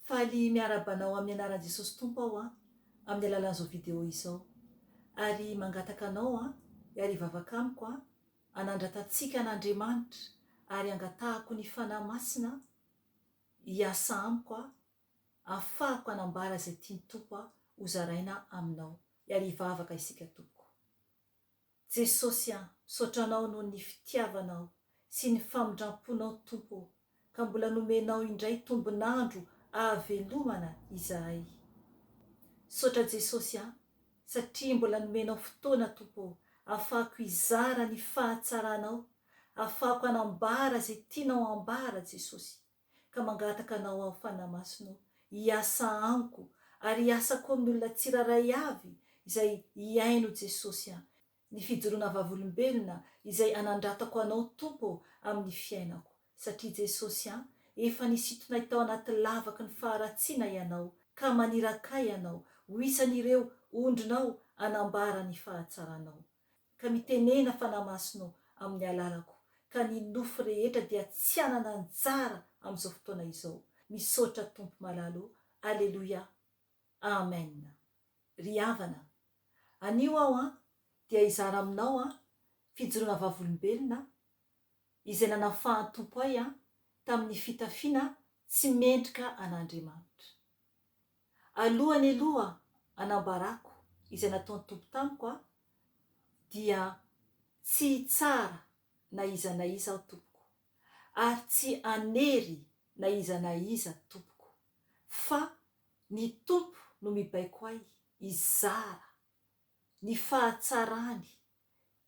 Faly miarahaba anao amin'ny anaran'i Jesosy Tompo aho an, amin'ny alalan'izao video izao. Ary mangataka anao an, hiara hivavaka amiko an, hanandratantsika an'Andriamanitra ary hangatahako ny Fanahy Masina hiasa amiko an, hahafahako hanambara izay tian'i Tompo an, hozaraina aminao. Hiara hivavaka isika tompoko. Jesosy a, misaotra Anao noho ny fitiavanao sy ny famindramponao Tompo ô, ka mbola nomenao indray tombon'andro ahavelomana izahay. Misaotra Jesosy a, satria mbola nomenao fotoana Tompo ô, ahafahako hizara ny fahatsaranao, ahafahako hanambara izay tianao hambara Jesosy. ka mangataka Anao aho, Fanahy Masina ô, hiasa amiko, ary hiasa koa amin'ny olona tsirairay avy izay hihaino Jesosy an, ny fijoroana vavolombelona izay hanandratako Anao Tompo amin'ny fiainako, satria Jesosy an, efa nisintonay tao anaty lavaky ny faharatsiana Ianao, ka maniraka ahy Ianao ho isan'ireo ondrinao hanambara ny fahatsaranao. ka mitenena Fanahy Masina amin'ny alalako ka ny nofo rehetra dia tsy hanana anjara amin'izao fotoana izao. Misaotra Tompo malala o! Aleloia! Amen! Ry havana, anio aho an dia hizara aminao an fijoroana vavolombelona izay nanafahan'Tompo ahy an tamin'ny fitafiana tsy mendrika an'Andriamanitra. Alohany aloha hanambarako izay nataon'ny Tompo tamiko aho dia tsy hitsara na iza na iza aho tompoko, ary tsy hanery na iza na iza tompoko, fa ny Tompo no mibaiko ahy hizara ny fahatsarany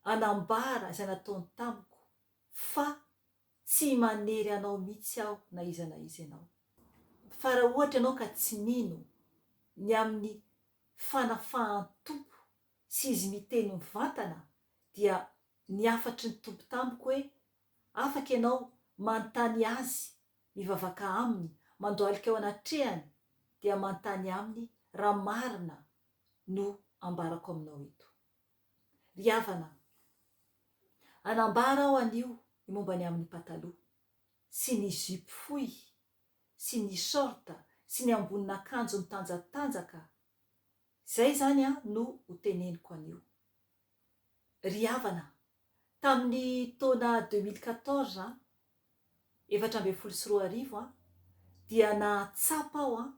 hanambara izay nataony tamiko fa Tsy manery anao mitsy aho na iza na iza ianao. Fa raha ohatra ianao ka tsy mino ny amin'ny fanafahan'ny Tompo sy Izy miteny mivantana dia ny hafatry ny Tompo tamiko hoe afaka ianao manontany Azy, mivavaka Aminy, mandohalika ao anatrehany dia manontany Aminy raha marina no ambarako aminao eto. Ry havana an! Hanambara aho anio ny momba ny amin'ny pataloha, sy ny zipo fohy, sy ny short, sy ny ambonin'akanjo mitanjatanjaka, izay izany an no ho teneniko anio. Ry havana an! Tamin'ny taona deux mille quatorze an, efatra ambin'ny folo sy roa arivo an, dia nahatsapa aho an,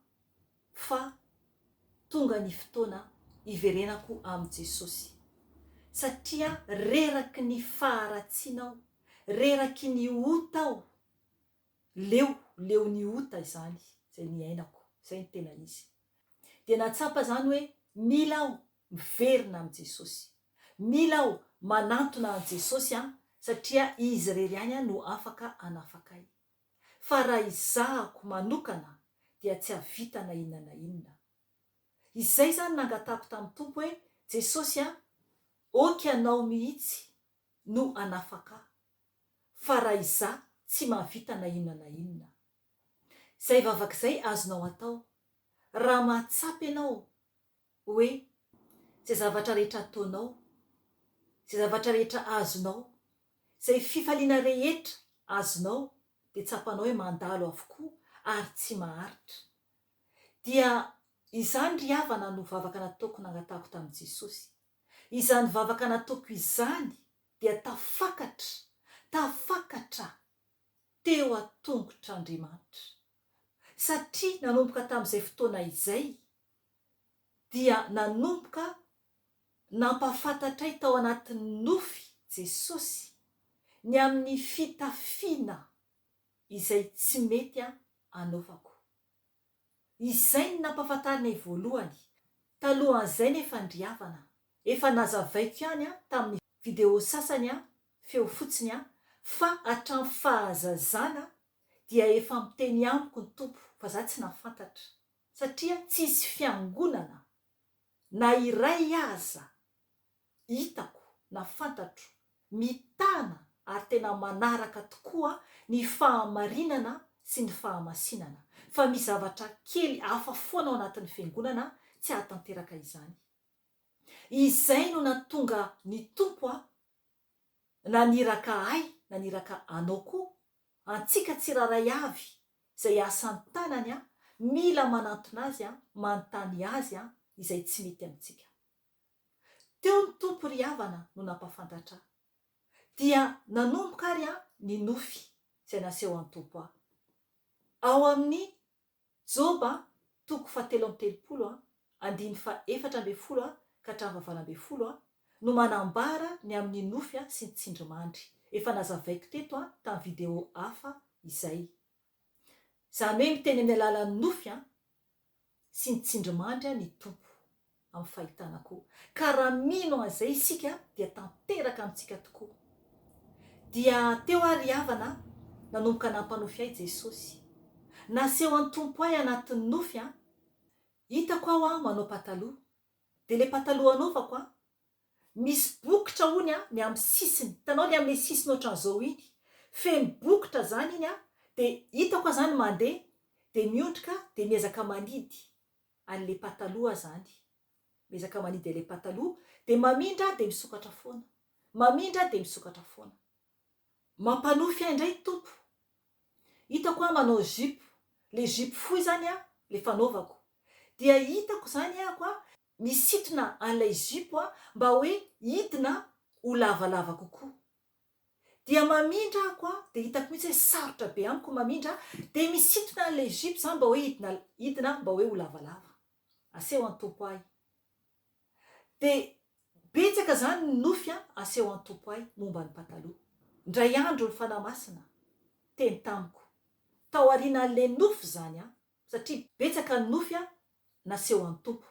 fa tonga ny fotoana hiverenako amin'i Jesosy. Satria reraky ny faharatsiana aho, reraky ny ota aho, leo, leon'ny ota izany izay niainako, izay ny tena izy. Dia nahatsapa izany hoe mila aho Miverina amin'i Jesosy. Mila aho manantona an'i Jesosy an, satria Izy irery ihany an no afaka hanafaka ahy. Fa raha izahako manokana dia tsy hahavita na inona na inona. Izay izany nangatahako tamin'ny Tompo hoe, Jesosy an, ok Ianao mihitsy no hanafaka ahy, fa raha izaho tsy mahavita na inona na inona. Izay vavaka izay azonao atao, raha mahatsapa ianao hoe izay zavatra rehetra ataonao, izay zavatra rehetra azonao, izay fifaliana rehetra azonao dia tsapanao hoe mandalo avokoa ary tsy maharitra. Dia izany ry havana no vavaka nataoko nangatahako tamin'i Jesosy. Izany vavaka nataoko izany dia tafakatra, tafakatra teo an-tongotr'Andriamanitra. Satria nanomboka tamin'izay fotoana izay dia nanomboka nampahafantatray tao anatin'ny nofy Jesosy ny amin'ny fitafiana izay tsy mety anaovako. Izay ny nampahafantarinay voalohany, talohan'izay ny fandriavana. Efa nazavaiko ihany tamin'ny video sasany feo fotsiny fa hatramin'ny fahazazana dia efa miteny amiko ny Tompo fa za tsy nahafantatra. satria tsy hisy fiangonana na iray aza hitako na fantatro mitana ary tena manaraka tokoa ny fahamarinana sy ny fahamasinana, fa misy zavatra kely hafa foana ao anatin'ny fiangonana tsy hahatanteraka izany. Izay no natonga ny Tompo aho naniraka ahy naniraka anao koa Antsika tsirairay avy izay asan'ny tanany a mila manantona azy a manontany azy a izay tsy mety amintsika. Teo ny Tompo ry havana no nampafantatra a. Dia nanomboka ary a ny nofy izay nasehon'ny Tompo a. Ao amin'ny Joba, toko fahatelo amby telopolo, andiny fahefatra ambin'ny folo ka hatramin'ny fahavalo ambin'ny folo, no manambara ny amin'ny nofy sy ny tsindrimandry. Efa nazavaiko teto tamin'ny video hafa izay. Izany hoe miteny amin'ny alalan'ny nofy sy ny tsindrimandry ny Tompo. amin'ny fahitana koa, ka raha mino an'izay isika dia tanteraka amintsika tokoa. Dia teo aho ry havana nanomboka nampanofy ahy Jesosy. Naseho an'i Tompo ahy anatin'ny nofy an! Hitako aho an manao pataloha, dia ilay pataloha anaovako an! misy bokotra hono an ny amin'ny sisiny, hitanao ilay amin'ilay sisiny ohatran'izao iny, feno bokotra izany iny an, dia hitako aho izany mandeha, dia miondrika dia miezaka manidy, Any le pataloha azany. Miezaka manidy le pataloha de mamindra de misokatra foana. Mamindra de misokatra foana. Mampanofy ahy ndray Tompo. Hitako aho manao zipo. Le zipo fohy zany an le fanaovako. Dia hitako zany ahako an misintona an'ilay zipo an mba hoe hidina ho lavalava kokoa. Dia mamindra ako an, dia hitako mihitsy hoe sarotra be amiko ny mamindra an, dia misintona an'ilay zipo za mba hoe hidina hidina mba hoe ho lavalava. Aseho an Tompo ahy. Dia betsaka izany ny nofy an, aseho an Tompo ahy momba ny pataloha. Indray andro ny Fanahy Masina teny tamiko, taorianan'ilay nofy izany an, Satria betsaka ny nofy naseho an'i Tompo.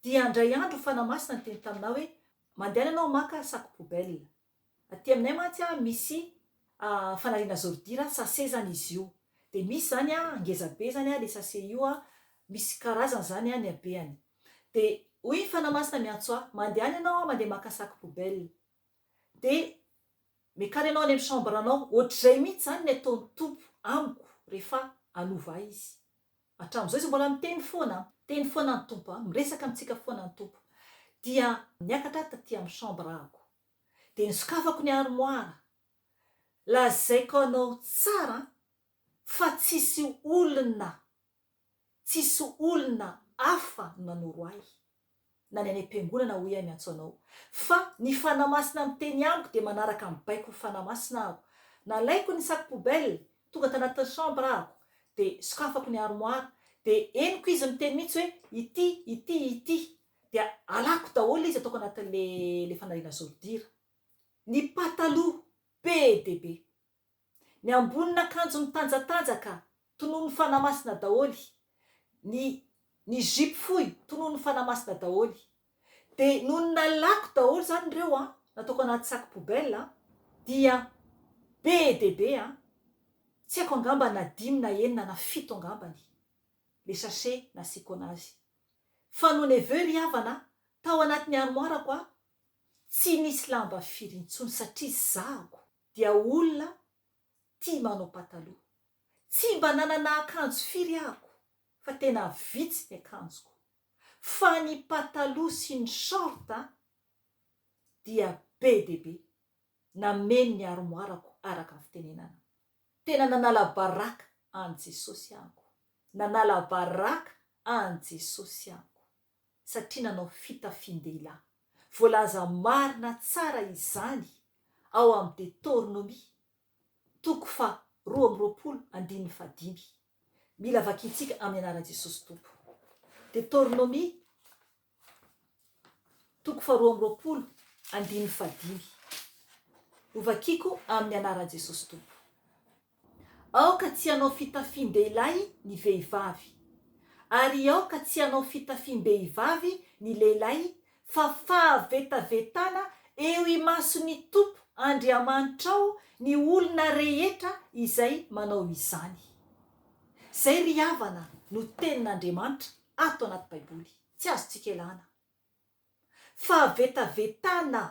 Dia handray andro ho fanamasina niteny taminà hoe, Mandehana ianao maka sac poubelle. Aty aminay mantsy misy fanariana zordira, sase izany izy io. Dia misy izany ngeza be izany ilay sase io, misy karazany izany ny habeany. Dia hoy ny fanamasina miantso ahy, Mandehana ianao mandeha maka sac poubelle. dia miakara ianao any amin'ny chambre anao, ohatr'izay mihitsy izany ny ataon'ny Tompo amiko rehefa hanova ahy Izy. Hatramin'izao Izy mbola miteny foana an, miteny foana ny Tompo an, miresaka amintsika foana ny Tompo. Dia niakatra ahy taty amin'ny chambre ahako, dia nosokafako ny armoire, lazaiko anao tsara an, fa tsisy olona tsisy olona hafa no nanoro ahy na ny any am-piangonana hoy aho miantso anao fa ny Fanahy Masina miteny amiko dia manaraka ny baikon'ny Fanahy Masina aho nalaiko ny sac poubelle tonga tanatin'ny chambre ahako dia sokafako ny armoire dia henoko izy miteny mihitsy hoe ity ity ity dia alako daholo izy ataoko anatin'le le fanariana zodira ny pataloha be dia be Ny ambonin'akanjo mitanjatanjaka, tonon'ny Fanahy Masina daholo. Ny ny zipo fohy, tonon'ny Fanahy Masina daholo. Dia nony nalako daholo izany ireo an, nataoko anaty sac poubelle an, dia be dia be an, tsy haiko angamba na dimy na enina na fito angambany le sachet nasiako anazy. Fa nony avy eo ry havana an, tao anatin'ny armoire-ko an, tsy nisy lamba firy intsony satria zahako. dia olona tia manao pataloha. Tsy mba nanana akanjo firy ahako fa tena vitsy ny akanjoko. Fa ny pataloha sy ny short dia be dia be. Nameno ny armoire-ko araka ny fitenenana. Tena nanala baraka an'i Jesosy ahako. Nanala baraka an'i Jesosy ahako. satria nanao fitafian-dehilahy. Voalaza marina tsara izany ao amin'ny Detornomia, toko faha roa amby roapolo andininy faha dimy. Mila vakintsika amin'ny anaran'i Jesosy Tompo. Detornomia, toko faha roa amby roapolo andininy faha dimy. Hovakiko amin'ny anaran'i Jesosy Tompo. Aoka tsy hanao fitafiam-dehilahy ny vehivavy, ary aoka tsy hanao fitafiam-behivavy ny lehilahy, fa fahavetavetana eo imason'ny Tompo Andriamanitrao ny olona rehetra izay manao izany. Izay ry havana no tenin'Andriamanitra ato anaty Baiboly, tsy azontsika ialana. Fahavetavetana!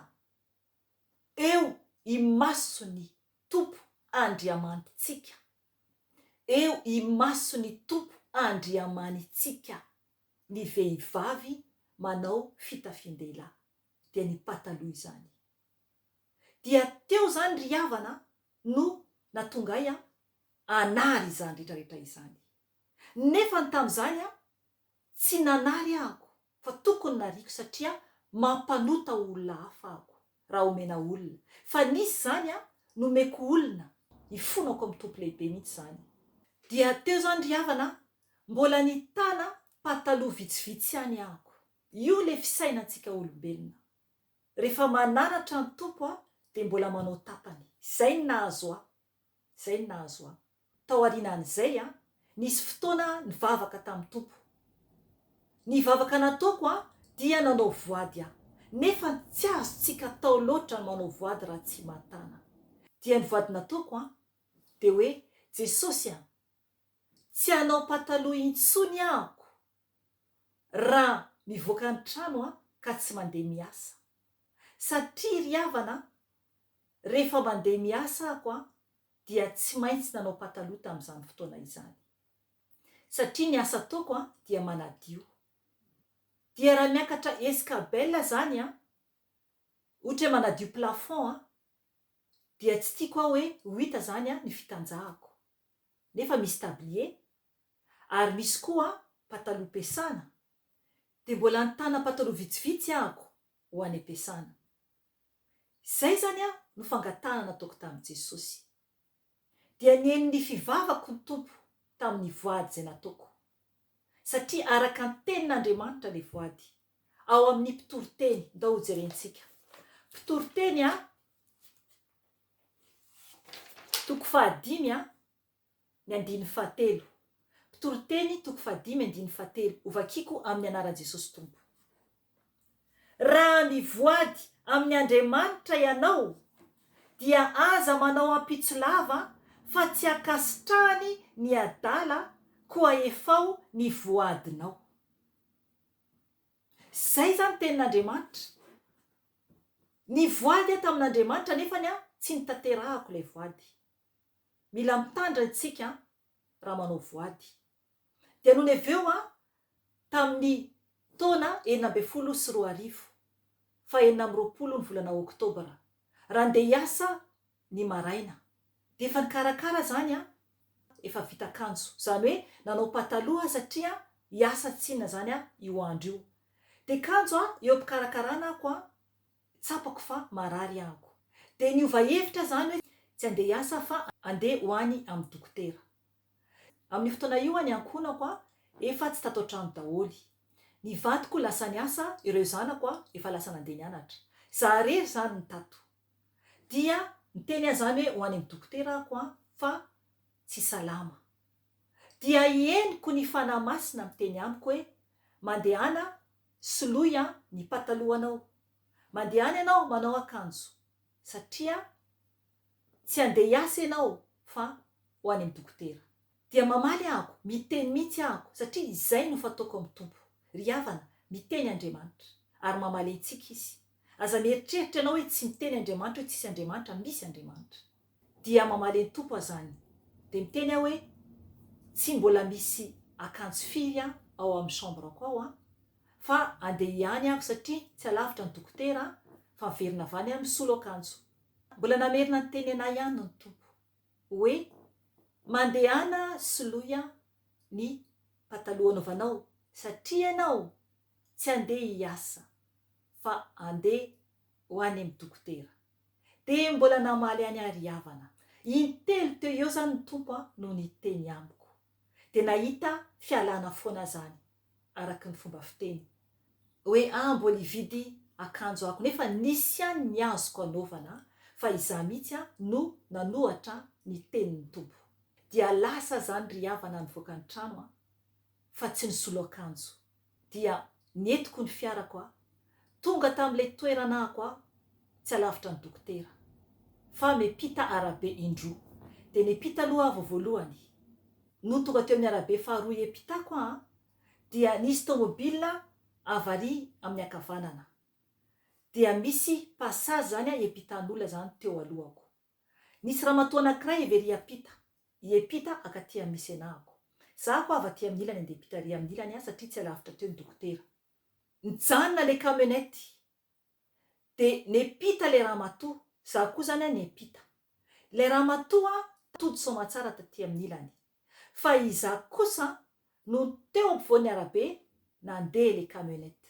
eo imason'ny Tompo Andriamanitsika, eo imason'ny Tompo Andriamanitsika ny vehivavy manao fitafian-dehilahy, dia ny pataloha izany. Dia teo izany ry havana no natonga ahy hanary izany rehetrarehetra izany. Nefa ny tamin'izany Tsy nanary aako fa tokony nariako satria mampanota olona hafa aako raha omena olona fa nisy zany a nomeko olona ifonako am tompo lehibe mihitsy zany dia teo zany ry havana a mbola nitana pataloha vitsivitsy ihany aako io le fisaina ntsika olombelona refa mananatra ny tompo a de mbola manao tapany zay ny nahazo ahy Izay no nahazo ahy. Taorianan'izay, nisy fotoana nivavaka tamin'ny Tompo. Ny vavaka nataoko dia nanao voady aho. Nefa tsy azontsika atao loatra ny manao voady raha tsy matana. Dia ny voady nataoko dia hoe, Jesosy a! Tsy hanao pataloha intsony aho. raha mivoaka ny trano aho ka tsy mandeha miasa. Satria ry havana an, rehefa mandeha miasa ahako an, dia tsy maintsy nanao pataloha tamin'izany fotoana izany. Satria ny asa ataoko an, dia manadio. Dia raha miakatra escabelle izany an, ohatra hoe manadio plafond an, dia tsy tiako aho hoe ho hita izany an, ny fitanjahako. Nefa misy tablier, ary misy koa pataloha pesana dia mbola nitana pataloha vitsivitsy ahako ho any am-piasana. Izay izany no fangatahana nataoko tamin'i Jesosy. Dia nihaino ny fivavako ny Tompo tamin'ny voady izay nataoko. Satria araka ny Tenin'Andriamanitra ilay voady, ao amin'ny Mpitoriteny, ndao hojerentsika. Mpitoriteny a, toko fahadimy a. Ny andininy fahatelo. Mpitoriteny, toko fahadimy andininy fahatelo, Hovakiko amin'ny anaran'i Jesosy Tompo. Raha mivoady amin'ny Andriamanitra ianao, dia aza manao ampitso lava fa tsy ankasitrahany ny adala koa efao ny voadinao. Izay izany tenin'Andriamanitra. Nivoady aho tamin'Andriamanitra nefany an, tsy notanterahako ilay voady. Mila mitandrina isika raha manao voady. Dia nony avy eo tamin'ny taona enina ambin'ny folo sy roa arivo, fahenina amby roapolo ny volana oktobra, raha handeha hiasa ny maraina, dia efa nikarakara izany efa vita akanjo, izany hoe nanao pataloha aho satria hiasa tsinona izany aho io andro io. Dia kanjo eo am-pikarakarana ako tsapako fa marary anko. Dia niova hevitra aho izany hoe tsy handeha hiasa aho fa handeha ho any amin'ny dokotera. Amin'io fotoana io ny ankohonako efa tsy tato an-trano daholo. Ny vadiko lasa niasa, ireo zanako efa lasa nandeha nianatra. Izaho irery izany no tato. Dia niteny ahy izany hoe ho any amin'ny dokotera ako fa tsy salama. Dia henoko ny Fanahy Masina miteny amiko hoe mandehana Soloy an ny patalohanao. Mandeha any ianao manao akanjo satria tsy handeha hiasa ianao fa ho any amin'ny dokotera. Dia mamaly ahako, miteny mihitsy ahako satria izay no fataoko amin'ny Tompo. Ry havana, miteny Andriamanitra. Ary mamaly antsika Izy. Aza mieritreritra ianao hoe tsy miteny Andriamanitra hoe tsisy Andriamanitra, misy Andriamanitra. dia mamaly an'i Tompo azany. Dia miteny aho hoe, tsy mbola misy akanjo firy an ao amin'ny chambre-ko ao an, fa andeha hiany aho satria tsy alavitra ny dokotera an, fa miverina avy any aho misolo akanjo. Mbola namerina niteny an'ahy ihany ny Tompo hoe, mandehana soloy an ny pataloha anaovanao satria ianao tsy andeha hiasa fa andeha ho any amin'ny dokotera. Dia mbola namaly an'i Ary havana. Intelo teo eo izany ny Tompo no niteny amiko. Dia nahita fialana foana aho izany, araka ny fomba fiteny. Hoe aho mbola hividy akanjo ako, nefa nisy ihany ny azoko anaovana, fa izaho mihitsy no nanohatra ny tenin'ny Tompo. Dia lasa aho izany ry havana nivoaka ny trano, fa tsy nisolo akanjo. dia nentiko ny fiarako aho. Tonga tamin'ilay toerana ahako aho, tsy alavitra ny dokotera, fa miampita arabe indroa. Dia niampita aloha aho vao voalohany. Nony tonga teo amin'ny arabe faharoa hiampitako aho, dia nisy tomobilina avy ary amin'ny ankavanana. Dia misy passage izany hiampitan'olona izany teo alohako. Nisy ramatoa anankiray heveri hiampita, hiampita akaty amin'ny misenahako. Za koa avy aty amin'ny ilany andeha ampita ary amin'ny ilany ahy satria tsy alavitra teo ny dokotera. Nijanona ilay camionnette dia niampita ilay ramatoa, za koa izany an niampita. Ilay ramatoa tody soamatsara taty amin'ny ilany. Fa izaho kosa no teo ampovoan'ny arabe nandeha ilay camionnette.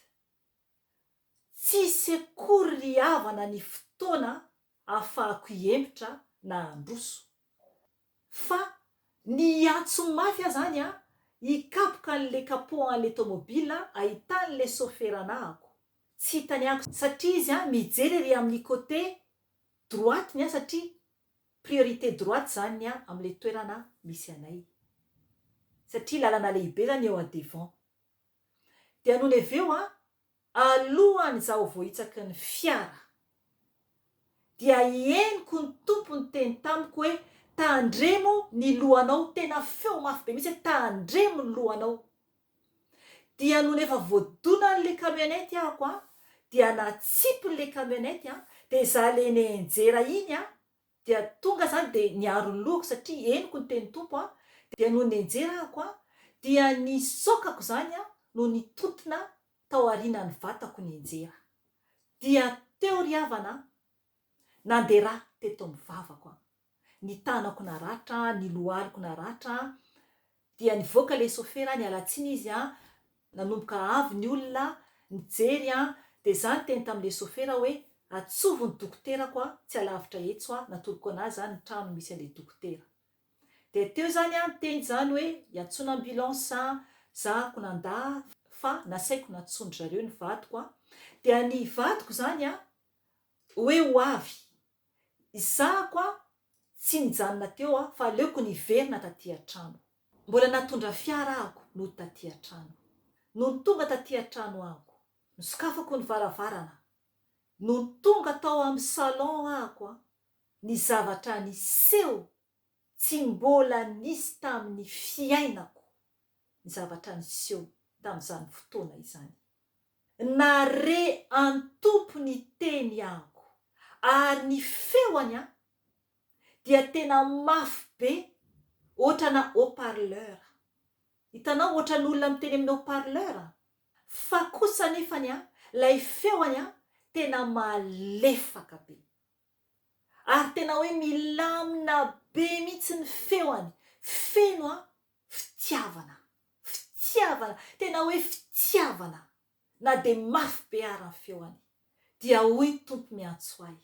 Tsisy akory ry havana ny fotoana afahako hihemotra na handroso. Fa ny hiantso mafy aho zany a, hikapoka an'le capot an'le tomobila ahitan'le sofera anahako. Tsy hitany ahy satria izy a mijery ery amin'ny côté droite ny ahy satria priorité droite zany ny ahy am'le toerana misy anay. Satria lalana lehibe zany eo à devant. Dia nony avy eo an, alohan' izaho voahitsaky ny fiara, dia i henoko ny Tompo niteny tamiko hoe, Tandremo ny lohanao, tena feo mafy be mihitsy hoe, Tandremo ny lohanao. Dia nony efa voadonan' ilay camionnette ahako an, dia natsipiny ilay camionnette an, dia izaho ilay nienjera iny an, Dia tonga za dia niaro ny lohako satria henoko ny tenin'ny Tompo an, dia nony nenjerako an, dia ny sokako izany an no nitontona tao arinan'ny vatako nenjera. Dia teo ry havana an, nandera teto amin'ny vavako an, ny tanako naratra, ny lohaliko naratra, Dia nivoaka ilay sofera niala tsiny izy an, nanomboka avy ny olona nijery an, dia za niteny tamin'ilay sofera hoe atsovo ny dokoterako an, tsy alavitra etso an, natoroko an'azy zany ny trano misy an'ilay dokotera. Dia teo zany an niteny zany hoe iantsoana ambulance an, za ko nandà fa nasaiko nantsoin-dry zareo ny vadiko an, dia ny vadiko zany an hoe ho avy, Isahako a! Tsy nijanona teo aho fa aleoko niverina taty an-trano. Mbola natondra fiara ako nody taty an-trano. Nony tonga taty an-trano ako, nosokafako ny varavarana. Nony tonga tao amin'ny salon ako a! Ny zavatra niseho tsy mbola nisy tamin'ny fiainako ny zavatra niseho tamin'izany fotoana izany. Nare an Tompo ny teny anko ary ny feony an dia tena mafy be otrana haut parleur hitanao otrany olona miteny amin'ny haut parleur an fa kosa nefany an lay feony an tena malefaka be. ary tena hoe milamina be mihitsy ny feony, feno a, fitiavana, fitiavana, tena hoe fitiavana, na dia mafy be ara ny feony, dia hoy Tompo miantso ahy,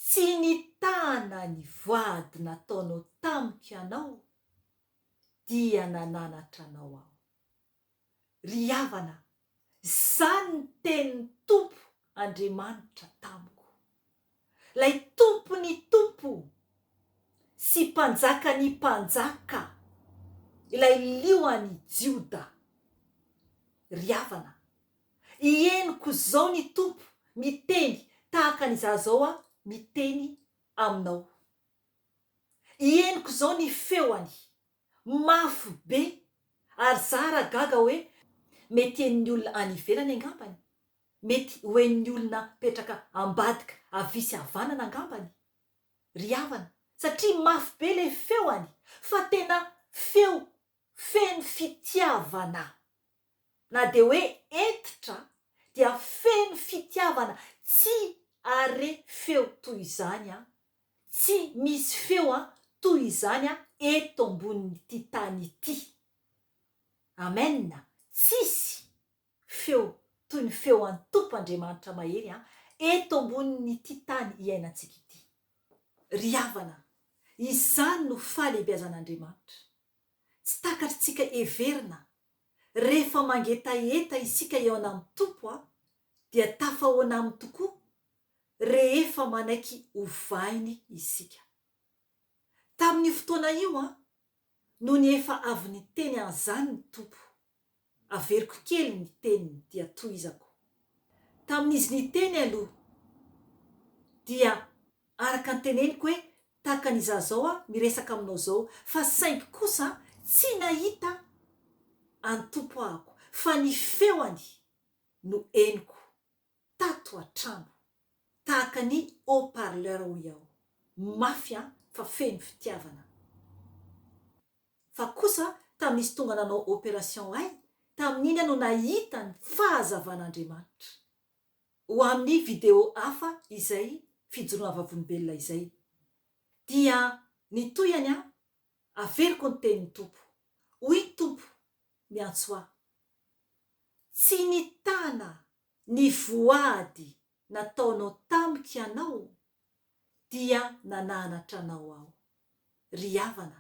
tsy nitana ny voady nataonao tamiko ianao, dia nananatra anao aho. ry havana, izany ny tenin'ny Tompo Andriamanitra tamiko, Ilay Tompon'ny tompo sy Mpanjakan'ny mpanjaka, Ilay Liohan'i Jioda, ry havana, henoko izao ny Tompo miteny tahaka ny izaho izao aho miteny aminao. Henoko izao ny feony. Mafy be! Ary za ra gaga oe mety en'ny olona any ivelany angambany? Mety ho en'ny olona petraka ambadika avia sy avanana angambany ry havana satria mafy be le feoany fa tena feo feno fitiavana. na dia hoe hentitra dia feno fitiavana tsy are feo toy izany an! Tsy misy feo an toy izany an eto ambonin'ity tany ity! Amen! Tsisy feo toy ny feo an Tompo Andriamanitra Mahery an eto ambonin'ity tany iainantsika ity! Ry havana, izany no fahalehibeazan'Andriamanitra! Tsy takatr'tsika heverina Rehefa mangetaheta isika eo anam Tompo a dia tafahoana aminy tokoa rehefa manaiky ovainy isika. Tamin io fotoana io a nony efa avy niteny an zany ny Tompo, averiko kely ny teniny dia tohizako. Tamin izy niteny aloha dia araka ny teneniko hoe tahaka ny izaho izao aho miresaka aminao izao, fa saingy kosa tsy nahita an'i Tompo ahako, fa ny feony no henoko tato an-trano, tahaka ny haut-parleur hoy aho, mafy an, fa feno fitiavana. Fa kosa tamin'izy tonga nanao operation ahy, tamin'iny aho no nahita ny fahazavan'Andriamanitra. Ho amin'ny video hafa izay fijoroan'ny vavolombelona izay. Dia ny tohihany aho, averiko ny tenin'ny Tompo. Hoy ny Tompo miantso ahy. Tsy nitana ny voady nataonao tamiko ianao dia nananatra anao aho. Ry havana,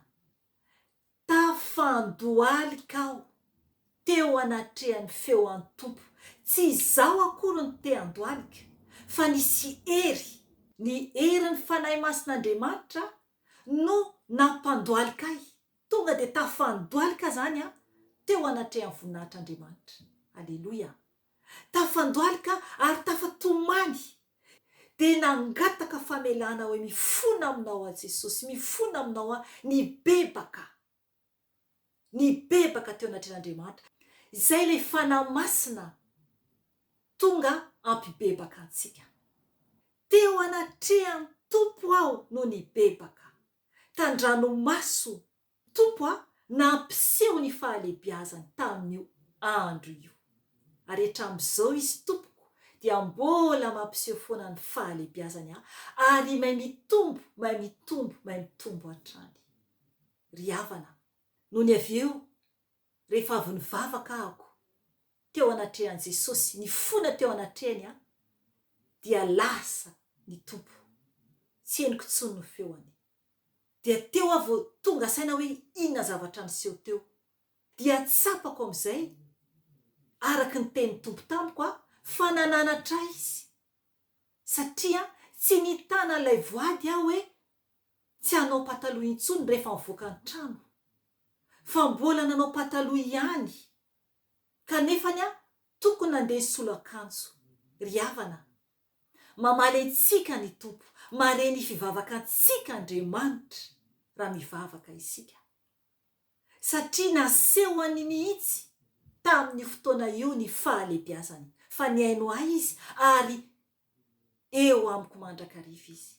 tafandohalika aho teo anatrehan'ny feo an'ny Tompo, tsy izaho akory no te-handohalika, fa nisy hery, ny herin'ny Fanahy Masin'Andriamanitra no nampandohalika ahy, tonga dia tafandohalika izany aho teo anatrehan'ny voninahitr'Andriamanitra. Aleloia! tafandohalika ary tafatomany, dia nangataka famelana hoe, Mifona aminao aho Jesosy, mifona aminao aho, nibebaka, nibebaka teo anatrehan'Andriamanitra, izay ilay Fanahy Masina tonga hampibebaka antsika. Teo anatrehan'ny Tompo aho no nibebaka, tan-dranomaso Tompo a, nampiseho ny fahalebiazany tamin'io andro io. Ary hatramin'izao Izy Tompoko dia mbola mampiseho foana ny fahalebiazany a, ary may mitombo, may mitombo, may mitombo hatrany. Ry havana, nony avy eo, rehefa avy nivavaka ahako, teo anatrehan'i Jesosy, nifona teo anatrehany aho, dia lasa ny Tompo. Tsy henoko intsony ny feony. dia teo aho vao tonga saina hoe inona zavatra niseho teo. Dia tsapako amin'izay, araka ny tenin'ny Tompo tamiko aho, fa nananatra ahy Izy. Satria tsy nitana an'ilay voady aho hoe tsy hanao pataloha intsony rehefa mivoaka ny trano. Fa mbola nanao pataloha ihany. Kanefany aho tokony nandeha hisolo akanjo. Ry havana. Mamaly antsika ny Tompo, mahare ny fivavakantsika Andriamanitra raha mivavaka isika. Satria nasehony mihitsy tamin'io fotoana io ny fahalebiazany, fa nihaino ahy izy ary eo amiko mandrakariva izy.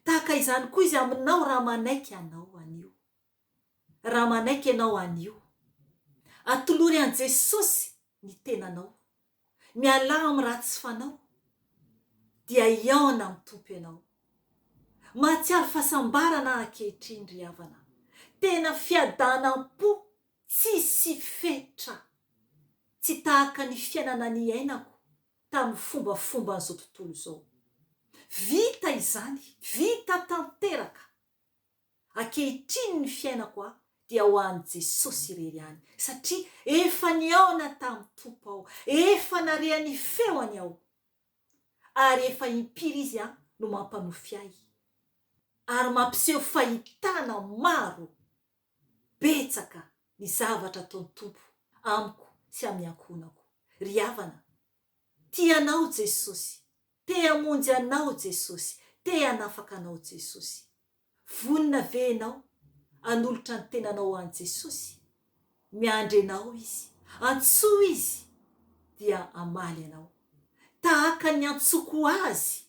Tahaka izany koa izy aminao raha manaiky hanao an'io. raha manaiky ianao anio. Atolory an'i Jesosy ny tenanao, mialà amin'ny ratsy fanao, dia hihaona amin'ny Tompo ianao. Mahatsiaro fahasambarana aho ankehitriny ry havana, tena fiadanam-po tsisy fetra, tsy tahaka ny fiainana niainako tamin'ny fombafomban'izao tontolo izao. Vita izany, vita tanteraka! Ankehitriny ny fiainako aho dia ho an'i Jesosy irery ihany, satria efa nihaona tamin'ny Tompo aho, efa narea ny feony aho, ary efa impiry Izy no mampanofy ahy, ary mampiseho fahitana maro betsaka ny zavatra ataon'ny Tompo amiko sy amin'ny ankohonako. Ry havana, tia anao Jesosy. Te hamonjy anao Jesosy, te hanafaka anao Jesosy. Vonona ve ianao hanolotra ny tenanao ho an'i Jesosy? Miandry anao Izy. Antsoy Izy dia hamaly anao. Tahaka ny niantsoako Azy.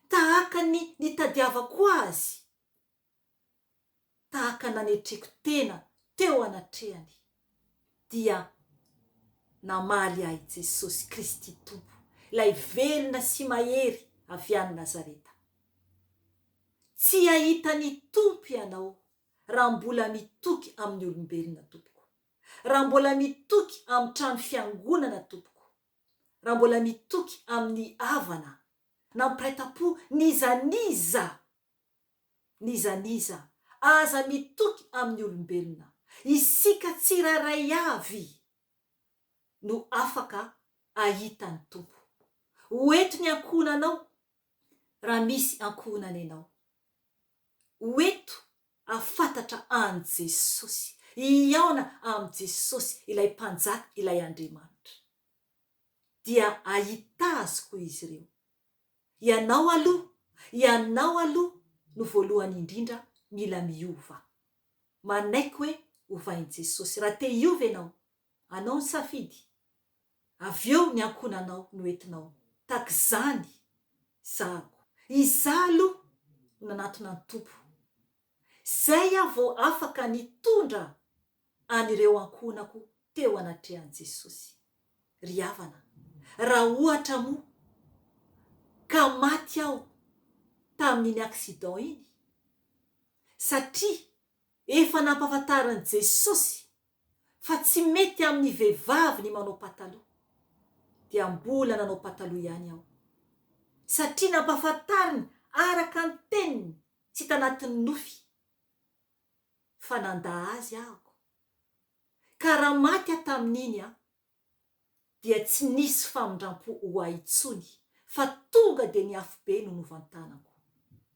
Tahaka ny nitadiavako Azy. tahaka nanetreko tena teo anatrehany, dia namaly ahy Jesosy Kristy Tompo, ilay velona sy mahery avy any Nazareta. Tsy hahita ny Tompo ianao raha mbola mitoky amin'ny olombelona, tompoko. Raha mbola mitoky amin'ny trano fiangonana, tompoko. Raha mbola mitoky amin'ny havana, nampiray tam-po n'iza n'iza N'iza n'iza aza mitoky amin'ny olombelona, isika tsirairay avy no afaka ahita ny Tompo. Ho eto ny ankohonanao raha misy ankohonana ianao. Ho eto hahafantatra an'i Jesosy, hihaona amin'i Jesosy, ilay Mpanjaka, ilay Andriamanitra. Dia hahita Azy koa izy ireo. Ianao aloha, ianao aloha no voalohany indrindra mila miova. Manaiky hoe ovain'i Jesosy. Raha te hiova ianao, anao ny safidy. Avy eo ny ankohonanao no entinao. Tahaka izany zahako. Izaho aloha no nanatona ny Tompo. Izay aho vao afaka nitondra an'ireo ankohonako teo anatrehan'i Jesosy. Ry havana, raha ohatra moa ka maty aho tamin'iny accident iny, satria efa nampahafantarin'i Jesosy fa tsy mety amin'ny vehivavy ny manao pataloha, dia mbola nanao pataloha ihany aho, satria nampahafantariny araka ny teniny sy tanatin'ny nofy. fa nandà azy ahoko, ka raha maty aho tamin'iny an, dia tsy nisy famindram-po ho ahy intsony, fa tonga dia ny afobe no novantanako.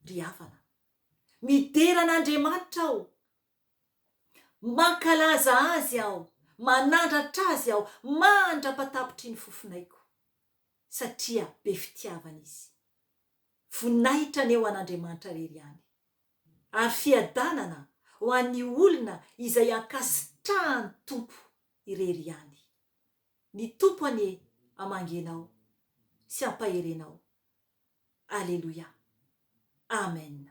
Ry havana, midera an'Andriamanitra aho, mankalaza Azy aho, manandratra Azy aho mandra-patapitry ny fofonaiko, satria be fitiavana Izy. Voninahitra anie ho an'Andriamanitra irery ihany, ary fiadanana ho an'ny olona izay ankasitrahan'ny Tompo irery ihany. Ny Tompo anie hamangy anao sy hampahery anao. Aleloia. Amen.